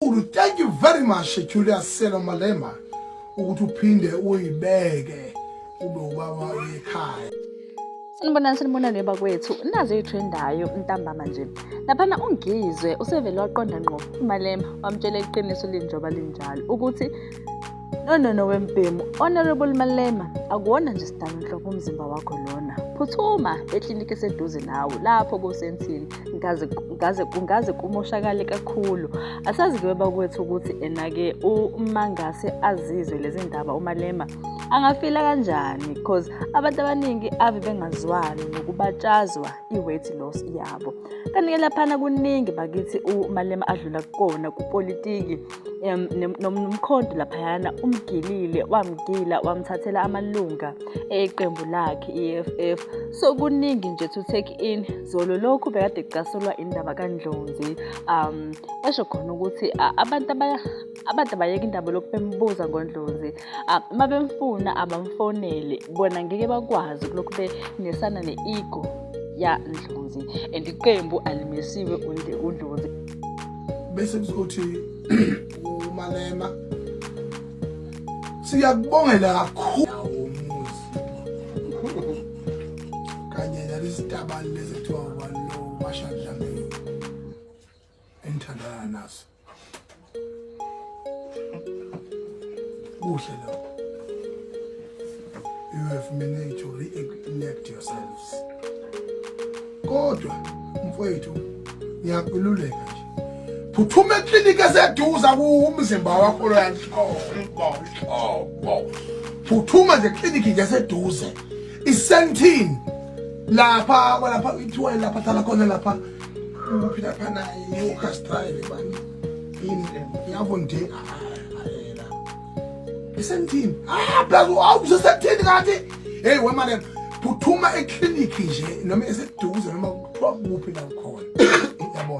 Ulu thank you very much Julius Selo Malema ukuthi uphinde uyibeke ube ubaba ekhaya. Sanibonani sanibonani bakwethu nazi ithrendayo ntambama nje laphana ungizwe usevele waqonda ngqo umalema wamtshela iqiniso linjoba linjalo ukuthi No no no wembhemu honorable Malema akuwona nje sidalo nhlobo umzimba wakho lona phuthuma ekliniki eseduze nawe lapho kusensini ngaze ngaze kungaze kumoshakale kakhulu asazi ke baba kwethu ukuthi ena ke uma ngase azizwe lezi ndaba umalema angafila kanjani because abantu abaningi ave bengazwani nokubatshazwa i-weight loss yabo kanti ke laphana kuningi bakithi umalema adlula kukona kupolitiki nomkhonto laphayana umgilile wamgila wamthathela amalunga eqembu lakhe i-EFF so kuningi nje to take in zolo lokhu bekade kucasulwa indaba kaNdlonzi um esho khona ukuthi abantu abantu abayeka indaba lokubembuza ngoNdlonzi Ah, uma bemfuna abamfonele bona ngeke bakwazi kulokhu benesana ne-ego yandlozi and iqembu alimesiwe undlozi bese kuzothi umalema siyakubongela kakhulu umuzi kanye nalesitabani lezi kuthiwa ubani lo mashadlamini engithandana naso kuhle lokho you have managed to reconnect yourselves kodwa mfowethu ngiyakululeka nje phuthuma ekliniki eseduza kumzimba wakho loyanhlobo phuthuma nje ekliniki nje eseduze isentini lapha kwalapha ithiwa lapha thala khona lapha Uphi lapha naye iwukhastayile bani yini yabo nje ayela isentini abheka ah, awuze sekuthini kanti hey wema lena phuthuma eklinikhi nje noma eseduze noma kuthiwa kuphi la ukhona yabona